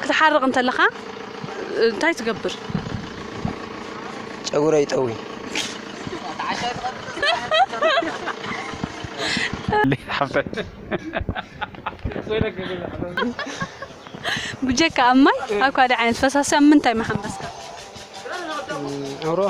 ክትሓርቕ እንተለኻ እንታይ ትገብር? ጨጉረይ ጠውይ። ብጀካ ኣብ ማይ ኣብ ካልእ ዓይነት ፈሳሲ ኣብ ምንታይ ምሓመስካ? ኣብ ሩባ።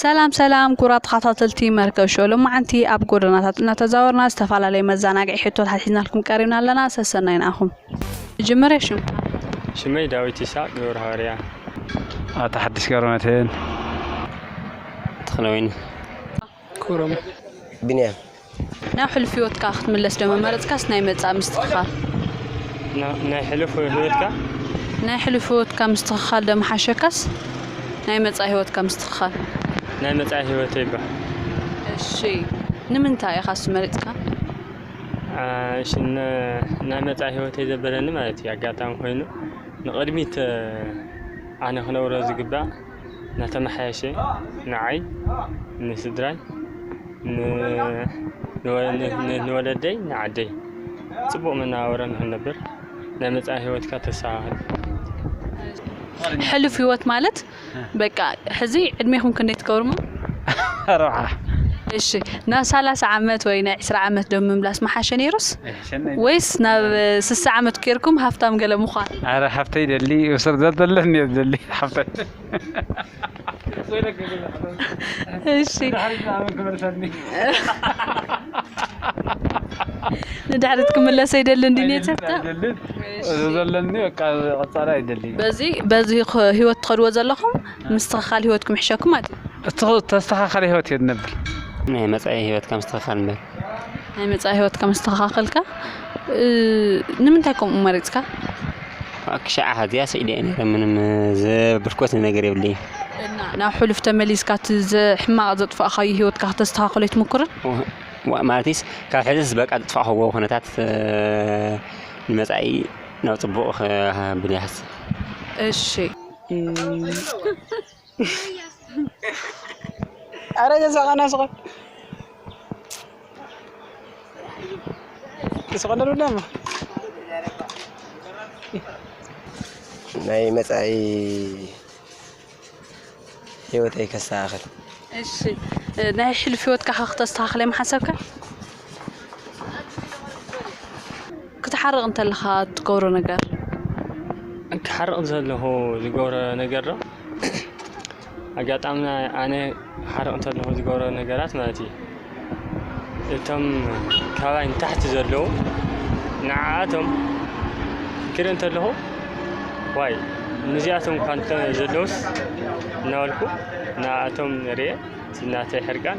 ሰላም ሰላም ኩራት ተኸታተልቲ መርከብ ሾው ሎማዓንቲ ኣብ ጎደናታት እናተዛወርና ዝተፈላለዩ መዘናግዒ ሕቶታት ሒዝናልኩም ቀሪብና ኣለና ሰሰናይ ንኣኹም መጀመርያ ሽምካ። ሽመይ ዳዊት ይስሃቅ ገብረሃዋርያ። ኣታ ሓድሽ ገብረመድህን። ተክለወይኒ ኩሩም። ቢንያም። ናብ ሕሉፍ ሂወትካ ክትምለስ ዶ ምመረጽካስ ናይ መጻኢ ምስትክካል። ናይ ሕሉፍ ሂወትካ። ናይ ሕሉፍ ሂወትካ ምስትክካል ዶ ምሓሸካስ ናይ መጻኢ ሂወትካ ምስትክካል። ናይ መጻኢ ሂወተይ እባ። እሺ ንምንታይ ኢካስ መሪጽካ። ናይ መፃኢ ሂወተይ ዘበለኒ ማለት እዩ ኣጋጣሚ ኮይኑ ንቅድሚት ኣነ ክነብሮ ዝግባእ እናተመሓየሸ ንዓይ ንስድራይ ንወለደይ ንዓደይ ፅቡቅ መነባብሮ ንክንነብር ናይ መፃኢ ሂወትካ ተስተካክል። ሕሉፍ ሂወት ማለት በቃ ሕዚ ዕድሜኹም ክንደይ ትገብሩሞ? ኣርብዓ። እሺ ናብ ሰላሳ ዓመት ወይ ናይ ዕስራ ዓመት ዶ ምምላስ ምሓሸ ነይሩስ ኣይሕሸናይ ወይስ ናብ ስሳ ዓመት ኬርኩም ሃፍታም ገለ ምዃን? ኣረ ሓፍተይ ደሊ እብስር ዘተለኒ እየ ዝደሊ ሓፍተይ እሺ። ድሕሪ ዕስራ ዓመት ክመልሰኒ ንድሕሪት ክምለስ ኣይደልን ድዩ ኔቸርታ ኣይደልን እዚ ዘለኒ በቃ ቀፃሊ ኣይደልን በዚ በዚ ኽ- ህይወት ትኸድዎ ዘለኹም ምስትኽኻል ህይወት ክምሕሸኩም ኣድልዩ እቲ ተስተኻኸለ ህይወት እየ ንብል ናይ መፃኢ ሂወትካ ምስትኽኻል ንበል ናይ መፃኢ ህይወትካ መስተኻኸልካ ንምንታይ ከምኡ መሪጽካ? እባክሽ ዓሃትያ ስዒደ እየ ነይረ ምንም ዘበልክዎት ነገር የብለይን። እና ናብ ሕሉፍ ተመሊስካ እቲ ዘ- ሕማቕ ዘጥፋእኻዮ ሂወትካ ክተስተኻኽሎ ኣይትምኩርን? ዋ- ዋ- ማለትስ ካብ ሕዝስ በቃ ዘጥፋእኽዎ ኩነታት እ፣ ንመጻኢ ናብ ጽቡቕ ከ- ብለ ይሃስብ። እሺ። ኣረ ገዛቃና ስቀ ስቀለሉ ደሞ ናይ መጻኢ ህይወተይ ከስተኻኽል እሺ ናይ ሕሉፍ ሂወትካ ከ ክተስተኻኽል እዮም ሓሰብካ ክትሓርቕ እንተለኻ ትገብሮ ነገር? ክሓርቕ እንተለኹ ዝገብሮ ነገር ዶ ኣጋጣሚ ኣነ ክሓርቕ እንተለኹ ዝገብሮ ነገራት ማለት እዩ እቶም ካባይ ንታሕቲ ዘለዉ ንዓኣቶም ክርኢ እንተለኹ ዋይ ንዚኣቶም እኳ እንተ ዘለዉስ እናበልኩ ንኣኣቶም ርእየ እቲ ናተይ ሕርቃን።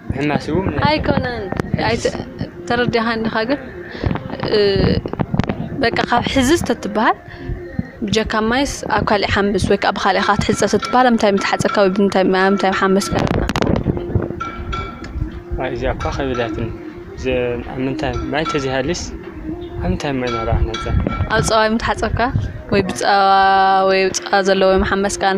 ኣይኮነን ተረዲእኻኒ ዲኻ ግን በቃ ካብ ሕዚ ተትበሃል ብጀካ ማይስ ኣብ ካልእ ሓምስ ወይ ከዓ ብኻልእ ኢኻ ክትሕፀብ ተትበሃል ኣብ ምንታይ ምተሓፀብካ ወይ ብምንታይ ማይ ኣብ ምንታይ ምሓመስካ ነይርካ? እዚኣ እኳ ከቢዳትኒ ኣብ ምንታይ ማይ ተዘይሃልዩስ ኣብ ምንታይ ማይ ናብራ ክንሓፅብ ኣብ ፀባይ ምተሓፀብካ ወይ ብፀባ ወይ ፀባ ዘለዎ ምሓመስካን?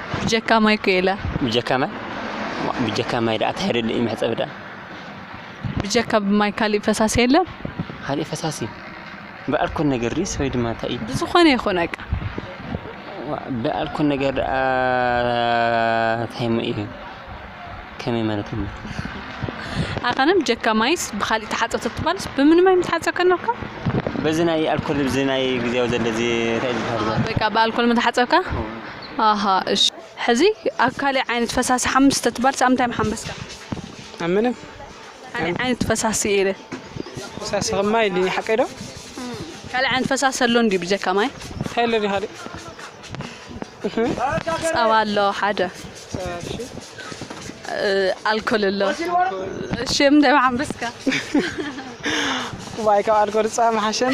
ብጀካ ማይ እኮ የለን። ብጀካ ማይ ብጀካ ማይ ደኣ ታይ ደሊ'ዩ መሕጸቢ ደኣ። ብጀካ ማይ ካሊእ ፈሳሲ የለን። ካሊእ ፈሳሲ ብኣልኮል ነገር ድዩስ ወይ ድማ ታይ እዩ። ብዝኾነ ይኹን በቃ። ዋእ ብኣልኮል ነገር ደኣ ታይ እሞ እዩ ከመይ ማለት እዩ። ኣኸነ ብጀካ ማይስ ብኻሊእ ተሓጸብ ተትባልስ ብምን ማይ ምትሓጸብካ ነርካ። በዚ ናይ ኣልኮል በዚ ናይ ግዝያዊ ዘሎ እዚ ታይ እዩ ዝበሃል እዚ። በቃ ብኣልኮል ምተሓጸብካ። ኣሃ እሺ ሕዚ ኣብ ካሊእ ዓይነት ፈሳሲ ሓምስ ተትባልስ ኣብ ምንታይ ምሓመስካ? ኣብ ምንም ካሊእ ዓይነት ፈሳሲ ኢለ ፈሳሲ ከም ማይ ኢልኒ ሓቀይ ዶ? ካሊእ ዓይነት ፈሳሲ ኣሎ እንድዩ ብጀካ ማይ? እንታይ ኣሎ ዲ ካሊእ? ጸባ ኣሎ ሓደ ኣልኮል ኣሎ እሺ ኣብ ምንታይ ምሓመስካ? ዋይ ካብ ኣልኮል ጸባ ምሓሸኒ።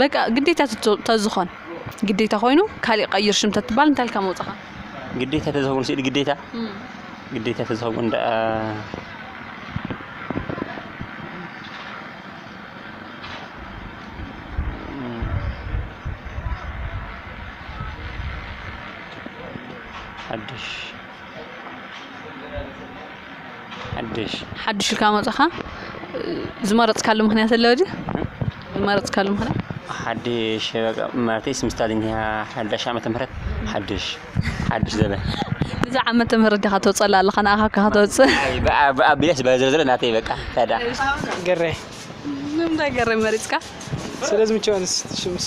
በቃ ግዴታ ተዝኾን ግዴታ ኮይኑ ካሊእ ቀይር ሽም ተትባል እንታይ ኢልካ መውፅኻ? ግዴታ ተዝኸውን ስእሊ ግዴታ ግዴታ ተዝኸውን ደኣ ሓድሽ ሓዱሽ ኢልካ መጸኻ ዝመረጽካሉ ምክንያት ኣሎ ድዩ ዝመረጽካሉ ምክንያት ሓድሽ በቃ ማለተይ ስም ስታሊን እያ ሓዳሽ ዓመተ ምህረት ሓድሽ ሓድሽ ዘበን ብዛ ዓመተ ምህረት ዲኻ ተውጸላ ኣለኻ ንኣኻ ካብ ከተውጽእ ብኣቢለስ በዘዘለ ናተይ በቃ ታዳ ገሬ ንምንታይ ገሬ መሪጽካ ስለ ዝምቸወንስ ሽምስ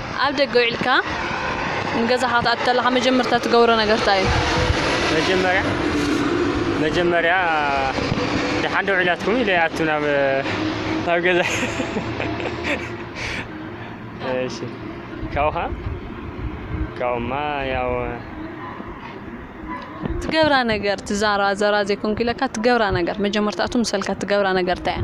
ኣብ ደገ ውዒልካ ንገዛኻ ክትኣቱ ተለኻ መጀመርታ ትገብሮ ነገር ታይ እዩ? መጀመርያ መጀመርያ ደሓን ዶ ውዒላትኩም ኢለ ይኣቱ ናብ ናብ ገዛ እሺ ካብኡ ኸኣ ካብኡማ ያው ትገብራ ነገር ትዛራ ዘራ ዘይኮንኩ ኢለካ ትገብራ ነገር መጀመርታቱ ምሰልካ ትገብራ ነገር ታይ እያ?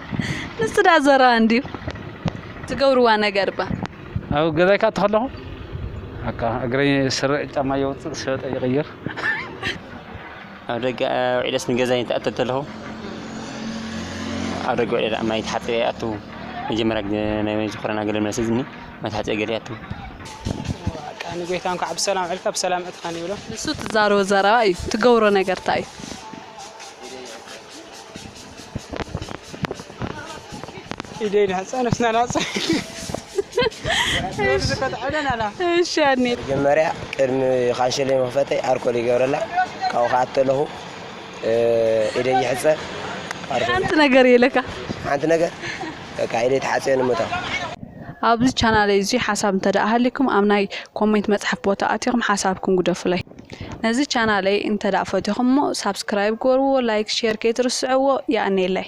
ንሱ ዳኣ ዘረባ እንድዩ ትገብርዋ ነገር እባ ኣብ ገዛይ ካኣ ተኸለኹ በቃ እግረይ ስረ ጫማ የውፅእ ሸበጠ ይቕይር ኣብ ደገ ውዒለስ ንገዛይ ተኣተ ተለኹ ኣብ ደገ ውዒለ ዳኣ ማይ ተሓፂበ ይኣቱ መጀመርያ ናይ መን ኮረና ገለ መልሲ ዝኒ ማይ ተሓፂበ ገለ ይኣቱ በቃ ንጎይታ እንኳዕ ብሰላም ዕልካ ብሰላም እትኸን ይብሎ ንሱ ትዛረቦ ዘረባ እዩ ትገብሮ ነገር እንታይ እዩ ኢደይን ሕፀነት ናናፀ መጀመርያ ቅድሚ ካንሸለይ መኽፈተይ ኣርኮል ይገብረላ ካብኡ ከዓ ተለኹ ኢደይ ይሕፀ ሓንቲ ነገር የለካ ሓንቲ ነገር በቃ ኢደይ ተሓፅዮ ንምታ ኣብዚ ቻናለይ እዙይ ሓሳብ እንተደኣ ሃሊኩም ኣብ ናይ ኮሜንት መፅሓፍ ቦታ ኣቲኹም ሓሳብኩም ጉደፉለይ። ነዚ ቻናለይ እንተ ፈቲኹሞ ሳብስክራይብ ግበርዎ ላይክ ሼር ከይትርስዕዎ የቀኔለይ።